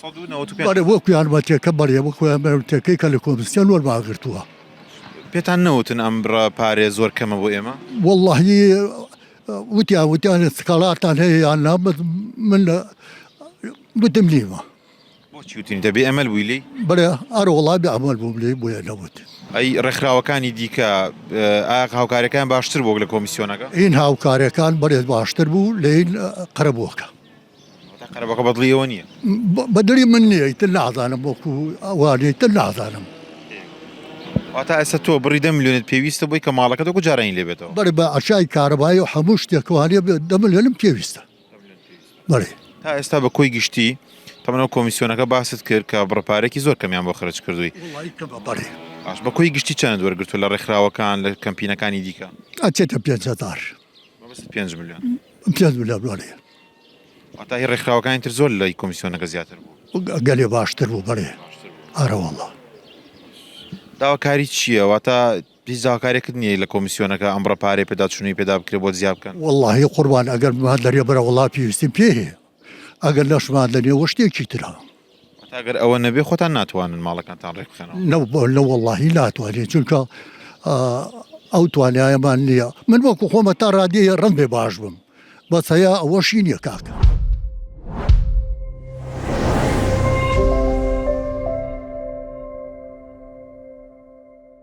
سەد و نەوەت و پێنج. بەڵێ وەکو یارمەتیەکە بەڵێ وەکو یارمەتیەکەی کە لە کۆمسیۆن وەرمان گرتووە. پێتان نەوتن ئەم بڕە پارەیە زۆر کەمە بۆ ئێمە؟ وەڵڵاهی وتیان وتیانە سکاڵارتان هەیە یان نا بەس من لە وتم نیمە. بۆچی وتنی تە بێئەمەل بووی لێی؟ بەڵێ ئەرە وەڵا بێئەمەل بووم لێی بۆیە نەوتم. ئەی ڕێکخراوەکانی دیکە ئایا هاوکاریەکەیان باشتر بووە لە کۆمسیۆنەکە؟ ئین هاوکاریەکان بەڵێ باشتر بوو لەین قەرەبووەکە. بەدڵی من نییە ئیتر نازانم وەکو وا ئیتر نازانم. واتا ئێستا تۆ بڕی دە ملیۆنت پێویستە بۆی کە ماڵەکەت وەکو جارانی لێ بێتەوە بەر بە عەشای کارەبایی و هەموو شتێکەوە لێ بێت دە ملیۆنم پێویستە بەڵێ تا ئێستا بە کۆی گشتی تەمەەوە کۆمیسیۆنەکە باست کرد کە بڕپارێکی زۆر کەمیان بۆ خرج کردووی وڵی کە بەپەڕێ باش بە کۆی گشتی چەند وەرگرتو لە ڕێکخراوەکان لە کەمپینەکانی دیکە ئەچێتە پێنج هەزار بەس پێنج ملیۆن پێنج ملیۆن بەڵێ واتە هی ڕێکخراوەکانی تر زۆر لای کۆمیسیۆنەکە زیاتر بوو گەلێ باشتر بوو بەێ ئارەوەڵە داواکاری چییە واتە هیچ داواکارێکت نییە لە کۆمیسیۆنەکە ئەم ڕپارێ پێداچوونی پێدا بکرێ بۆ زیاب بکەن واللهی قوربان ئەگەر بمان دەرێ بەرە وڵا پێویستیم پێ هەیە ئەگەر نەشمان دەنێ وە شتێکی ترە واتە ئەگەر ئەوە نەبێ خۆتان ناتوانن ماڵەکانتان ڕێک بخەنەوە؟ نە بۆ لە وەڵاهی ناتوانێت چونکە ئەو توانایەمان نییە من وەکو خۆمە تا ڕادەیە ڕم بێ باش بم بەس هەیە ئەوەشی نییە کاکە.